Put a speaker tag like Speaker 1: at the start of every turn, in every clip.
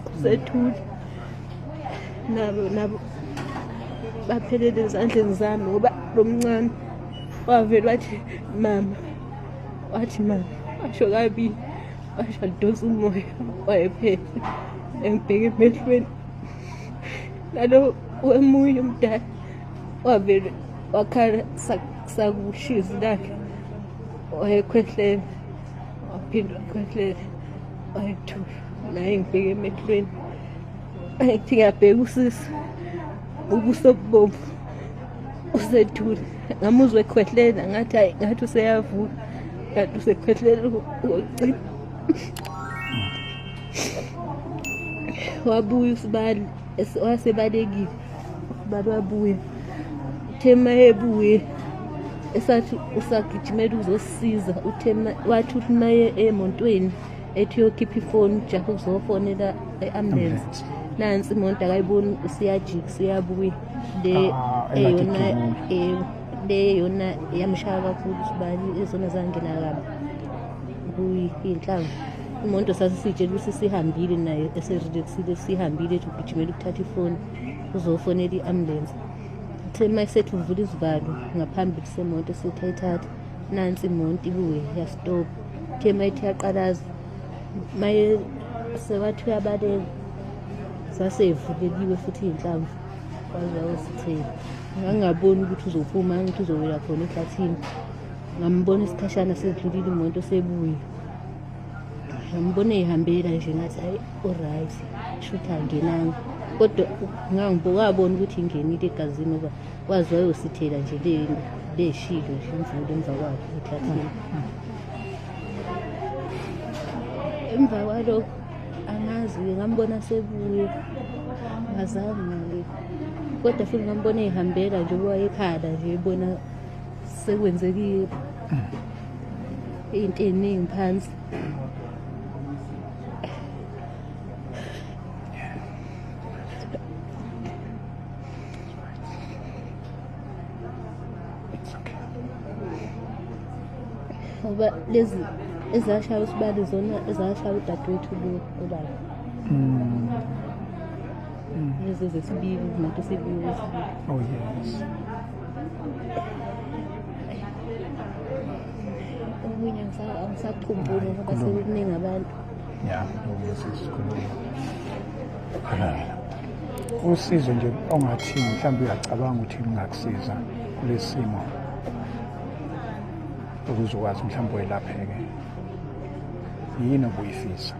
Speaker 1: kusethule nabo nabo baphelele ezandleni zami ngoba lo mncane wavele wathi mama wathi mama washo kabili washo adonsa umoya wayephele engibheke emehlweni nalo wemunye umdala wavele wakhala sakushizi lakhe wayekhwehlela waphinde wakhwehlela ayithu naye ngibheke emehlweni ayithi ngiyabheka usisi ubuso bubomvu usethule ngamuzwa ekhwehlela ngathi hayi ngathi useyavuka ngathi usekhwehlela ngocina wabuya usibali wasebalekile baba abuye uthema ebuye esathi usagijimela uzosiza uthema wathi uthi maye emontweni ethi uyokhipha ifoni ujahe ukuzofonela e-ambulance nansi imoto akayiboni usiyajika usiyabuya le ah, eyona eh, le eyona yamshaya kakhulu usibani ezona zangena kabi kuyinhlanga umuntu sasisitshela ukuthi sihambile naye eserelaxile sihambile ethi ugijimela ukuthatha ifoni uzofonela i-ambulance uthe uma esethi uvula izivalo ngaphambi kusemonto esethi ayithathe nansi imonto ibuye yastop uthe uma ethi yaqalaza maye sewathi uyabaleka sasevulekiwe futhi iy'nhlamvu kwaze wawusithela ngangingaboni ukuthi uzophuma angithi uzowela khona ehlathini ngambona isikhashana sedlulile imoto sebuye ngambona eyihambela nje ngathi hayi uright shuthi angenanga kodwa ngangibokabona ukuthi ingenile egazini ngoba wazi wayosithela nje leshilo nje imvula emva kwakhe ehlathini emva kwalokho angazi-ke ngambona sebuye ngazange-ke kodwa futhi ngambona eyihambela nje uba ekhala nje ebona sekwenzekile into eningi phansi ngoba lezi ezashaya usibali zona ezashaya udadewethu lo obala mm. mm. lezi zesibili nato sibili oh yes okunye angisakhumbuli ngoba
Speaker 2: sekukuningi abantu ya usizo nje ongathi mhlawumbe uyacabanga ukuthi lungakusiza kulesimo ukuze ukwazi mhlawumbe welapheke yini obuyifisa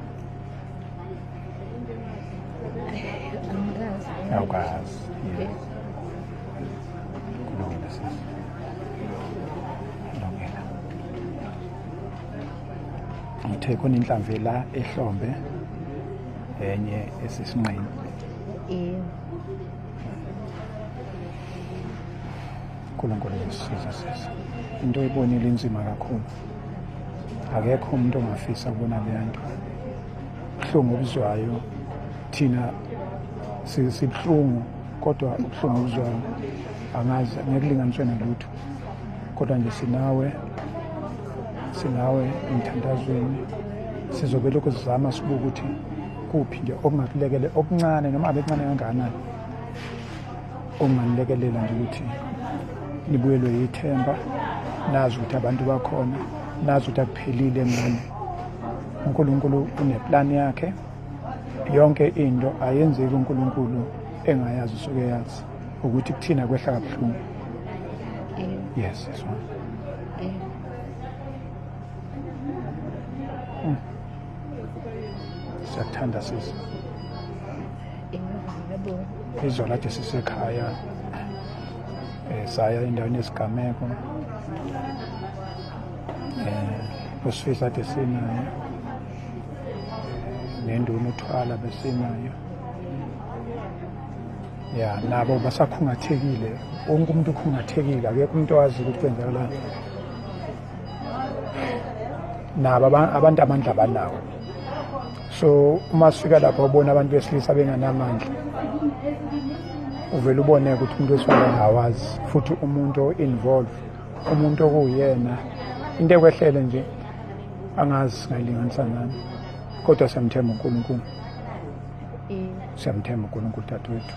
Speaker 2: awukazi yes ngithe khona inhlamvu la ehlombe enye esisinqeni yebo uNkulunkulu uyasiza sisi into oyibonile inzima kakhulu akekho umuntu ongafisa ukubona leya nto buhlungu obuzwayo thina sibuhlungu kodwa ubuhlungu obuzwayo angazi ngekulinganiswe nalutho kodwa nje sinawe sinawe emthandazweni sizobe lokhu sizama sibuke ukuthi kuphi nje okungakulekele okuncane noma abekuncane kangakanani okunganilekelela nje ukuthi nibuyelwe yithemba nazi ukuthi abantu bakhona nazi ukuthi akuphelile ngani unkulunkulu uneplani yakhe yonke into ayenzeki uNkulunkulu engayazi usuke yazi ukuthi kuthina kwehla kabuhlungu yes yes one hmm. siyakuthanda sisi izolo athi sisekhaya um saya endaweni yesigameko um eh, usifisa athi sinaye nenduna uthwala besinayo ya nabo basakhungathekile wonke umuntu ukhungathekile akekho umuntu owazi ukuthi kwenzakalani nabo abantu amandla abanawo so uma sifika lapho ubona abantu besilisa benganamandla uvele ubone ukuthi umuntu wesifazane awazi futhi umuntu o-involve umuntu okuwuyena into ekwehlele nje angazi singayilinganisa nani kodwa siyamthemba unkulunkulu mm. siyamthemba unkulunkulu dadewethu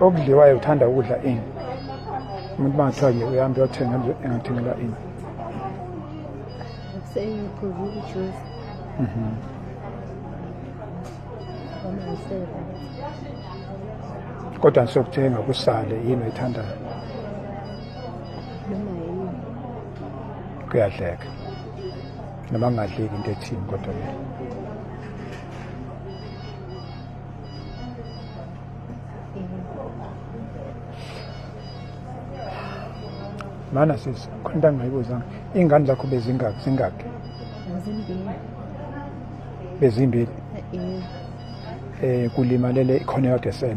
Speaker 2: okudliwayo uthanda ukudla ini umuntu bangathiwa nje uyahambe uyothenga engathengela ini
Speaker 1: mhm.
Speaker 2: kodwa nisokuthenga kusale yini oyithandayo kuyadleka noma kungadleki into ethini kodwa leyo mana sisi khona into angingayibuzanga iy'ngane zakho bezingaki zingaki bezimbili um kulimalele ikhona yodwa
Speaker 1: esele